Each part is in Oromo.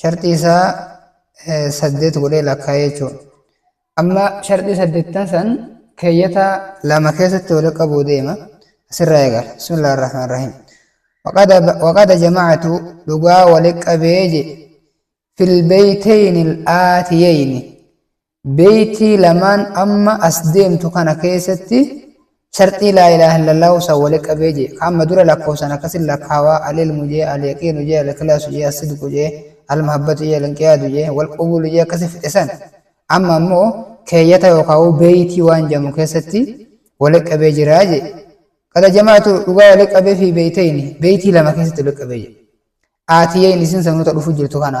sharxii isaa saddeet godhee lakkaa'ee jechuudha. Amma sharxii saddeettan san keeyyata lama keessatti wal qabuu deema. Asirraa eegala. Bismillah ar-Rahmaan Rahiim. Waqada jama'atu dhugaa wal qabee je filbeeyteyni al-aatiyeyni Beeytii lamaan amma as deemtu kana keessatti sharxii laa ilaaha illallaahu san wali qabee jee ka amma dura lakkoofsan akkasin lakkaawaa al ilmu jee al yaqiinu jee al ikhlaasu jee as sidqu jee al mahabbatu jee al inqiyaadu jee wal qubuulu jee akkasi fixe san amma ammoo keeyyata yookaawuu beeytii waan jeamu keessatti wali qabee jiraa jee qada jamaatu dhugaa wali qabee fi beeytayni beeytii lama keessatti wali qabee jee aatiyayni isin sanuu ta dhufu jirtu kana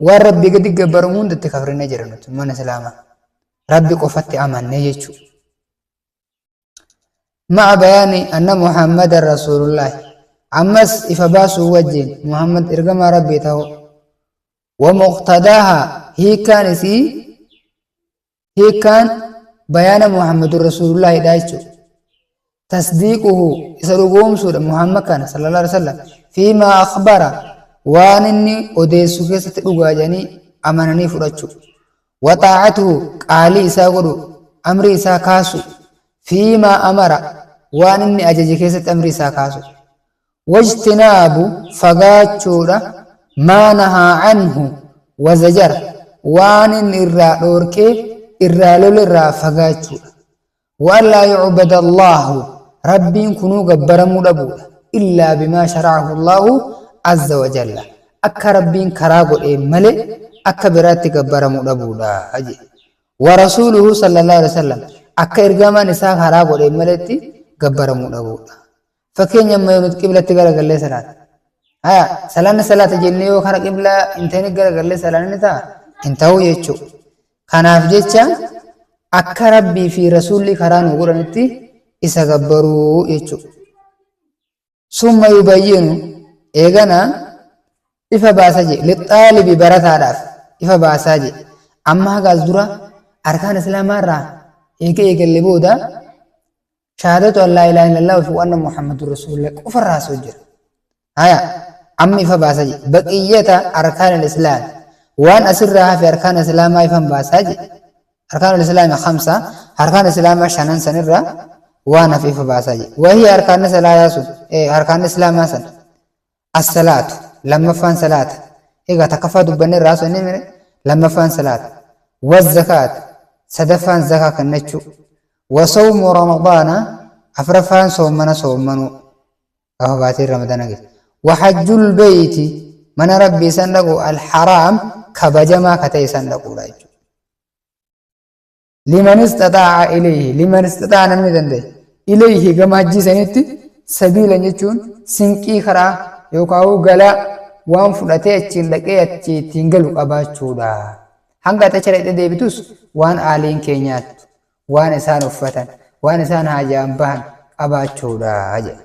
Waan Rabbii gadi gabbaramu hunda itti kafrinee jira nuti mana Islaamaa. Rabbi qofatti amannee jechuudha. Ma'a bayaani anna Muhammad Rasuulullaahi. Ammas ifa baasuu wajjin Muhammad ergamaa Rabbii ta'uu. Wa muqtadaaha hiikaan isii hiikkaan bayaana muhammadun rasuulullaahidha jechuudha tasdiiquhu isa dhugoomsuudha muhammad kana sallallahu alaihi wasallam fiimaa akhbara waan inni odeessu keessatti dhugaa jedhanii amananii fudhachuu waxaa'atuhu qaalii isaa godhu amrii isaa kaasu fiimaa amara waan inni ajaje keessatti amrii isaa kaasu Wajtinaabu fagaachuudha maa nahaa canhu wazajara waan inni irraa dhoorkee irraa lolerraa fagaachuudha. Wa'allaa yucbada Allaahu Rabbiin kunuu gabbaramuu dhabuudha illaa bimaa sharacahu Allaahu azza wajalla akka Rabbiin karaa godheen malee akka biraatti gabbaramu dhabuudha jee. Warasuuluhu sallallaahu aleyhi wasallam akka ergamaan isaa karaa godheen maletti gabbaramuu dhabuudha. Fakkeenya amma yoo nuti qiblatti garagallee salaanne. Haya, salaanni salaata jennee yoo kara qiblaa hin ta'in garagallee salaanne ni ta'a? Hin ta'u jechuu. Kanaaf jecha akka Rabbii fi Rasuulli karaa nu godhanitti isa gabbaruu jechuu. Summa yubayyinu eegana ifa baasa jee lixaalibi barataadhaaf ifa baasaa jee amma hagaas dura arkaan islaamaa irraa eega eegalle booda shahaadatu an laa ilaaha illallah fi wanna muhammadun rasuulillah qofa irraa haasa'u jira haya amma ifa baasa je baqiyyata arkaan alislaam waan asirraa hafe arkaan islaamaa ifan baasaa je arkaan alislaami kamsa arkaan islaamaa shanan sanirraa waan hafe ifa baasaa je wahii arkaanni salaataa sun arkaanni islaamaa san As-salaatu, lammaffaan salaata. Egaa takkaffaa dubbannee irraa haasofnee mire lammaffaan salaata. Waz-zakaatu, sadaffaan zakaa kennachuu. Wasawmu ramadaana, afraffaan soommana soommanuu. Gaafa baatiin ramadana geesse. Wahajjul beeyti, mana rabbii san dhaqu al-haraam kabajamaa ka ta'e san dhaquudha jechuudha. liman istaxaa'a ilayhi liman istaxaa'a namni danda'e ilayhi gama hajjii sanitti sabiilan jechuun sinqii karaa yookaan galaa waan fudhatee achiin dhaqee achi ittiin galu qabaachuudha hanga ati achi dhaqxee deebitus waan aaliin kee nyaattu waan isaan uffatan waan isaan haajaan bahan qabaachuudha jedha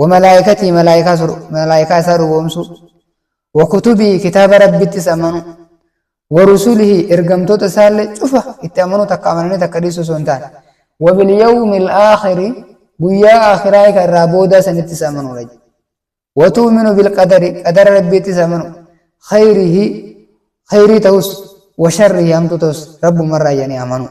Wa malaa'ikatii malaa'ikaa sur malaa'ikaa isaa dhugoomsuu. Wa kutubii kitaaba Rabbittis amanuu. Wa rusulihi ergamtoota isaallee cufa itti amanuu takka amananii takka dhiisuu osoo hin taane. Wa bil yawmil aakhiri guyyaa aakhiraa ka irraa boodaa sanittis amanuudha. Wa tu'minu bil qadari qadara Rabbiittis amanuu. Khayrihi khayrii tahus wa sharrihi hamtuu tahus Rabbumarraa jedhanii amanuu.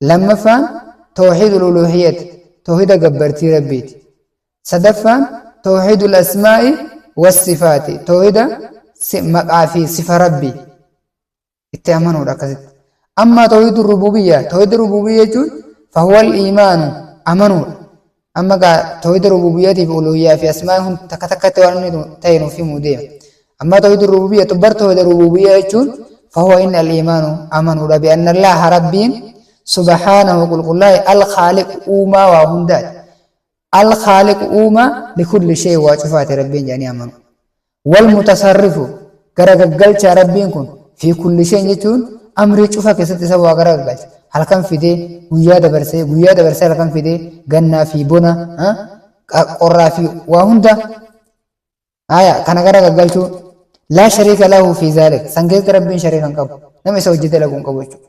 Lammaffaan Tawhiidul Uluuhiyyati, Tawhiida gabbartii Rabbiiti. Sadaffaan Tawhiidul Asmaa'i was-Sifaati, Tawhiida maqaa fi sifa Rabbii itti amanuudha akkasitti. Ammaa Tawhiidul Rubuubiyya, Tawhiida Rubuubiyya jechuun fahuwal iimaanu, amanuudha. Amma gaa tawhida rububiyyatiif uluhiyyaa fi asmaan hundi takka takkatti waan inni ta'e nuuf himuu deema. Amma tawhida rububiyya bar tawhida rububiyya jechuun fahuwa inni al-imaanu amanuudha bi anna Allaha rabbiin subhaanahu qulqullaa'e al-khaaliqu uumaa waa hundaati. Al-khaaliqu uumaa likulli shay waa cufaati rabbiin jedhanii amanu. Wal mutasarrifu, gara gaggalchaa Rabbiin kun, fi kulli shay'in jechuun amrii cufa keessatti isa waa gara gaggalcha. Halkan fidee, guyyaa dabarsee, guyyaa dabarsee halkan fidee, gannaa fi bona, qorraa fi waa hunda, aaya, kana gara gaggalchuu, laa shariika lahu fi zaalik, san keessatti Rabbiin shariika hin qabu, nama isa wajji dalagu hin qabu jechuudha.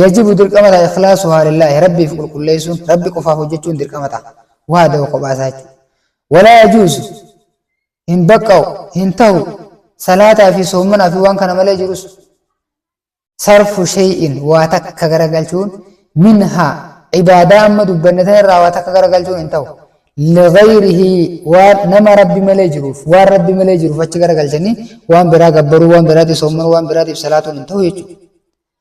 Yajibu dirqama ta'a ikhlaasuhaa lillaahi rabbiif qulqulleessuun rabbi qofaaf hojjechuun dirqama ta'a wahdahu kophaa isaa jechuudha walaa yajuuzu hin baqqa'u hin tahu salaataa fi soommanaa fi waan kana malee jirus sarfu shay'in waa takka garagalchuun minhaa ibaadaa amma dubbanne tan irraa waa takka garagalchuun hin tahu ligayrihi waan nama rabbi malee jiruuf waan rabbi malee jiruuf achi garagalchanii waan biraa gabbaruu waan biraatiif soommanuu waan biraatiif salaatuun hin tahu jechuudha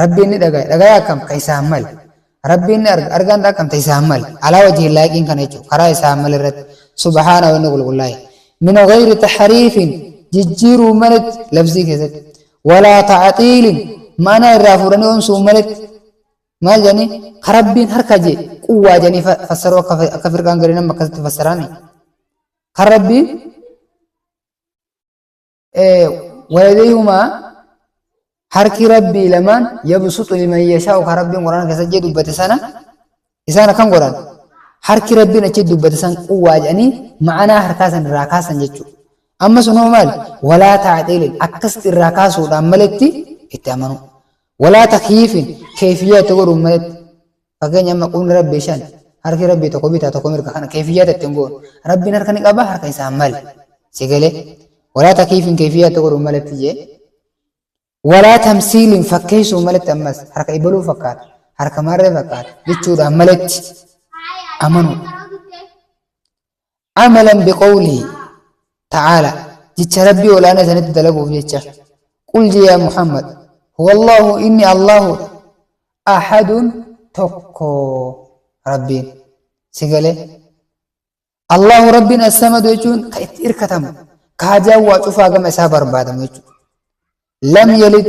Rabbiin ni dhagaya. Dhagaya akkam? Ka isaan male. Rabbiin ni arga. Argaan ta akkam? Ta isaan male. Alaa wajhi hin laayiqiin kana jechuudha. Karaa isaan male irratti. Subhaana wanni qulqullaa'e. Min ghayri tahriifin jijjiiruu maletti labzii keessatti. Walaa ta'axiilin ma'anaa irraa fuudhanii oomsuu maletti. Maal jedhanii? Ka Rabbiin harka jee quwwaa jedhanii fa- fassaruu akka fa- akka firqaan gariin amma akkasitti fassaraani. Kan Rabbiin Waladayhumaa harki rabbii lamaan yabsuxu liman yashaa'u ka rabbiin quraana keessa jee dubbate sana isaan akkan godhan harki rabbiin achi dubbate san quwwaa jedhanii ma'anaa harkaa san irraa kaasan jechuu amma sun hoo maali walaa taaxiilin akkasitti irraa kaasuudhaan maletti itti amanuu walaa takyiifin keefiyyaa itti godhuun maletti Fakkeenya amma qubni Rabbii shan, harki Rabbii tokko bitaa tokko mirga kana keefiyyaata ittiin goonu. Rabbiin harka ni qaba harka isaan mali. Si galee? Walaa takiifiin keefiyyaata godhuun malatti jee. Walaa tamsiiliin fakkeessuun malatti ammas harka ibaluu fakkaata. Harka maarree fakkaata. Jechuudhaan malatti amanuudha. Amalan biqawlihi ta'aala jecha Rabbii ol'aanaa isanitti dalaguuf jecha. Qul je yaa Muhammad, Huwallaahu inni Allaahudha. Ahadun tokko Rabbiin. Si galee? Allaahu Rabbiin assamadu jechuun ka itti irkatamu, ka hajaan waa cufaa gama isaa barbaadamu jechuudha. Lam yalid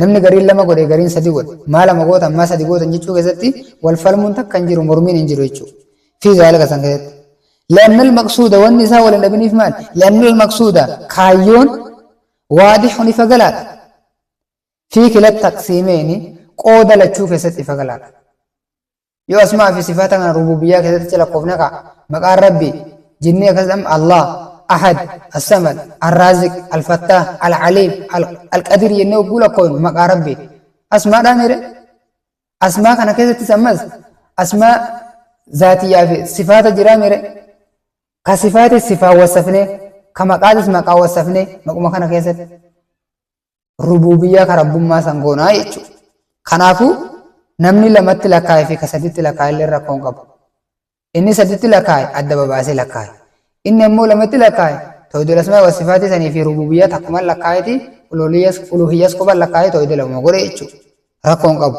Namni gariin lama godhe gariin sadi godhe. Maa lama gootan maa sadi gootan jechuu keessatti wal falmuun takka hin jiru mormiin hin jiru jechuudha. Fi zaalika san keessatti. Li'annal maqsuuda wanni isaa wal hin dhabiniif maal? Li'annal maqsuuda kaayyoon waadixun ifa galaadha. Fi kila taqsiimeeni qooda lachuu keessatti ifa galaadha. Yoo asmaa fi sifaata kana rubuubiyyaa keessatti lakkoofne kaa, maqaan Rabbi, jennee akkasitti amma Allaah, Ahad, As-Samad, Al-Raaziq, Al-Fattaah, Al-Aliim, Al-Qadiir jennee hogguu lakkoofnu maqaa Rabbiiti. Asmaa dhaa mire? Asmaa kana keessattis ammas asmaa zaatiyyaa fi sifaata jiraa mire? Ka sifaatis sifaan wassafnee, ka maqaatis maqaan wassafnee maquma kana keessatti. rubuubiyyaa ka rabbummaa san goonaa jechuudha. Kanaafu namni lamatti lakkaa'e fi ka saditti lakkaa'e illee rakkoo hin qabu. Inni saditti lakkaa'e adda babaasee lakkaa'e. Inni ammoo lamatti lakkaa'e tawhidul asmaa'i wa sifaatii sanii fi rubuubiyyaa takkuman lakkaa'eeti uluhiyyas qofa lakkaa'ee tawhida lamuma godhe jechuudha. Rakkoo hin qabu.